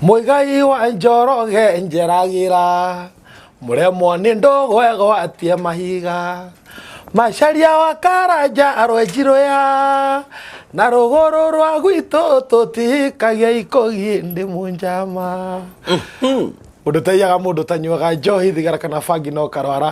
Mũigai wa njoroge njeragĩra mũremwo nĩ ndũgwegwatie mahiga macaria wa karanja arwenjirũya na rũgũrũ rwa gwitũ tũtikagia ikũgi ndĩ mũnjama ũndũ taiyaga mũndũ tanyuaga njohi thigara kana bangi no karwara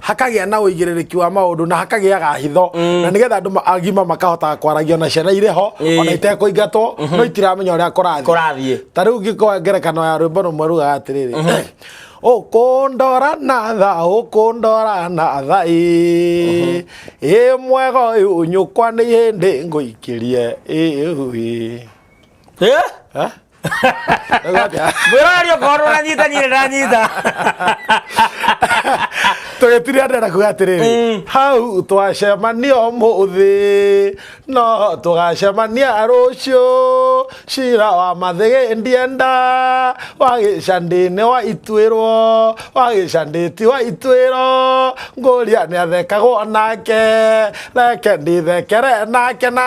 hakagĩa na ũigĩrĩrĩki wa maũndũ na hakagĩaga hitho mm. na nĩgetha andũ agima makahotaga kwaragia na ciana irĩ ho mm. ona itekũingatwo mm -hmm. no itiramenya ũrĩa kũrathiĩ ta rĩu ngĩkoa ngerekano ya rwĩmbo rũmwe rugaga atĩrĩrĩ mm -hmm. ukundora na tha ukundora na tha ä ä mwega å yå nyå kwa nä hä ndä ngå ikä rie ä Eh? Ha? mwĩrorari okorwo ũranyitanyire ndanyita tũgĩtire andũ na kuga atĩrĩrĩ mm. hau twacemania ũmũthĩ no tũgacemania rũciũ cira wa mathĩgĩ ndienda wagĩcandĩnĩ wa ituĩrwo wagĩcandĩti wa ituĩro ngũria nĩ athekagwo nake reke ndithekere nake na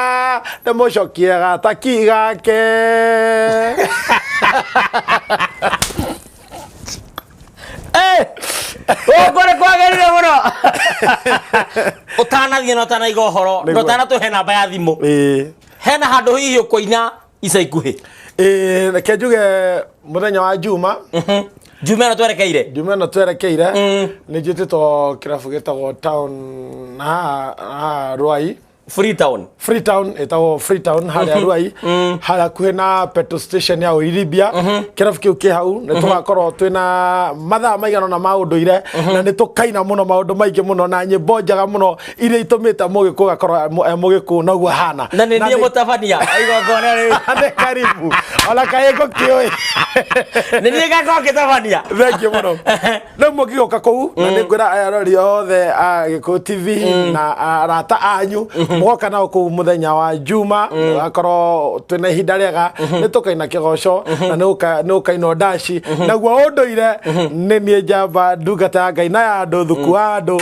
ndĩmũcokie gataki gake gũkũ nĩ kwagĩrire mũno ũtanathiĩ na ũtanaiga ũhoro Nĩguo. na ũtanatũhe namba ya thimũ Ĩĩ. hena handũ hihi ũkũina ica ikuhĩ Ĩĩ, reke njuge mũthenya wa juma njuma ĩno twerekeire juma ĩno twerekeire Mm. nĩ njĩtĩtwo kĩrabu gĩtagwo town na haha- haha rwai freetown freetown ĩtagwo freetown harĩa rwai harĩa kuhĩ na petrol station ya ũiribia kĩrabu kĩu kĩ hau nĩ tũgakorwo twĩ na mathaa maigana na ma ũndũire na nĩ tũkaina mũno maũndũ maingĩ mũno na nyĩmbo njega mũno iria itũmĩte mũgĩkũ gakorwo e mũgĩkũ noguo hana na nĩ niĩ mũtabania igongona rĩu nĩ karibu ona kaĩ ngũkĩũĩ nĩ niĩ gakorwo ngĩtabania thengiũ mũno rĩu mũngĩgũka kũu na mm. nĩ ngwĩra arori othe a gĩkũ tv mm. na arata anyu mm-hmm. mũgoka nao kũu mũthenya wa juma mm. akorwo twĩna ihinda rĩega mm-hmm. nĩ tũkaina kĩgoco mm-hmm. na nĩ ũkainwo ndaci naguo ũndũire nĩ niĩ njamba ndungata ya ngai na ya andũ thuku wa andũ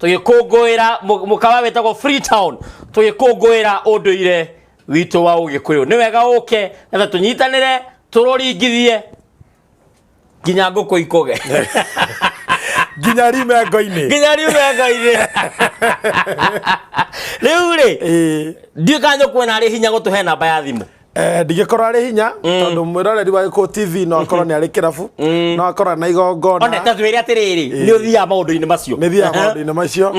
tũgĩkũngũĩra mũ- mũkawa wĩtagwo freetown tũgĩkũngũĩra ũndũire witũ wa ũgĩkũyũ nĩ wega ũke nĩgetha tũnyitanĩre tũrũringithie nginya ngũkũ ikũge nginya rimengo-inĩ nginya riumenga-inĩ rĩu rĩ Ĩĩ. ndiũka nyũkwona arĩ hinya gũtũhe namba ya thimũ Eh, ndingĩkorwo arĩ hinya tondũ mwĩroreri wa gĩkũ tv no akorwo nĩ arĩ kĩrabu no akorwo na igongona one ta twĩre atĩrĩrĩ nĩ ũthiaga maũndũ-inĩ macio nä thiaga Aha. maå-ndå-inä macio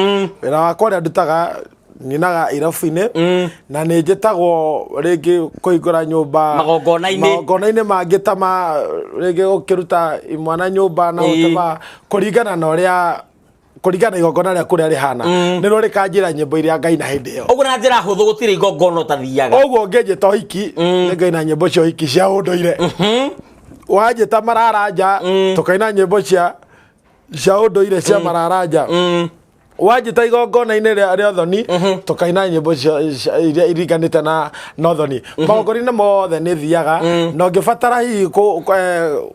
wä ra wakwa rä a ndutaga nyinaga irabu-inä na nä njä tagwo rä ngä kå hingå ra nyå mba Magongona-inĩ. magongona-inä mangä ta ma rä ngä gå kä ruta mwana nyå mba na Ĩĩ. gå kå ringana na å rä a kũringana na igongona rĩa kũrĩa rĩhana nĩrĩo rĩkanjĩra nyĩmbo iria ngai na hĩndĩ ĩyo ũguo na njĩra hũthũ gũtirĩ igongona ũtathiaga koguo ũngĩnjĩta ũhiki nĩ ngai na nyĩmbo cia ũhiki cia ũndũire wanjĩta mararanja tũkaina nyĩmbo cia cia ũndũire cia mararanja wanjĩta igongona-inĩ rĩa rĩa ũthoni tũkaina nyĩmbo cia- cia- iria iringanĩte na na ũthoni magongona-inĩ mothe nĩ thiaga na ũngĩbatara hihi kũ- kũ- eh,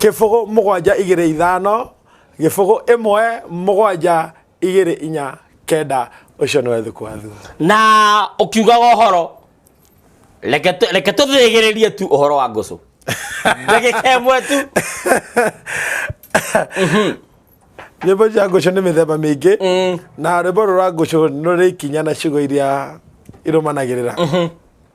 kĩbũgũ mũgwanja igĩrĩ ithano gĩbũgũ ĩmwe mũgwanja igĩrĩ inya kenda ũcio nĩwe thuku wa thuo na ũkiugaga ũhoro reke tũ- reke tũthĩgĩrĩrie tu ũhoro wa ngũcũ ndagĩka ĩmwe tu nyĩmbo cia ngũcũ nĩ mĩthemba mĩingĩ na rwĩmbo rũra ngũcũ nĩ rũrĩ ikinya na ciugo iria irũmanagĩrĩra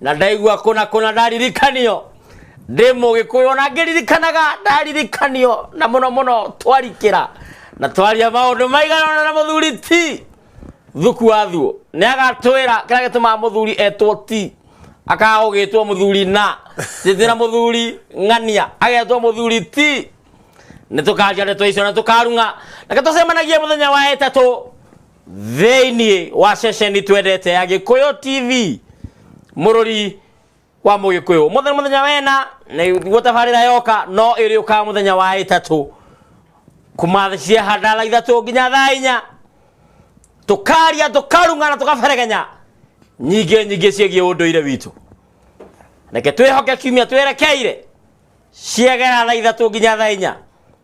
na ndaigua kũna kũna ndaririkanio ndĩ mũgĩkũyũ na ngĩririkanaga ndaririkanio na mũno mũno twarikĩra na twaria maũndũ maiganona na mũthuri ti thuku wa thuo nĩ agatwĩra kĩrĩa gĩtũmaga mũthuri etwo ti akaga gũgĩtwo mũthuri na njĩtĩra mũthuri ng'ania agetwo mũthuri ti nĩ tũkanjia ndeto icio na tũkarung'a na tũcemanagie mũthenya wa ĩtatũ thĩinĩ wa ceceni twendete ya gĩkũyũ tv mũrũri wa mũgĩkũyũ mũthenya mũthenya wena nĩguo tabarĩra yoka no ĩrĩũkaga mũthenya wa ĩtatũ kuma thaa cia handala ithatũ nginya thaa inya tũkaria tũkarung'ana tũkaberegenya nyingĩ nyingĩ ciĩgiĩ ũndũire witũ reke twĩhoke kiumia twerekeire ciegera thaa ithatũ nginya thaa inya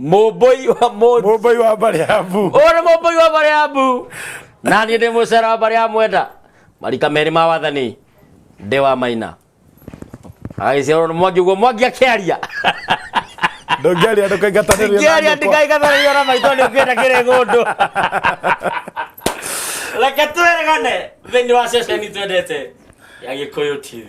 Mũmbũi wa mũndũ. Mũmbũi wa Mbariabu. Ũyũ nĩ mũmbũi wa Mbariabu. Na niĩ ndĩ mũcera wa Mbariabu mwenda. Marika merĩ ma wathani. Ndĩ wa maina. Agĩciarwo nĩ Mwangi ũguo Mwangi akĩaria. Ndũngĩaria ndũkaingatanĩrio na Ndũngĩaria nyũkwa. ndikaingatanĩrio na maitũ nĩ ũkĩenda kĩrĩ ng'ũndũ. Reke twĩregane thĩinĩ wa ceceni twendete ya Gĩkũyũ TV.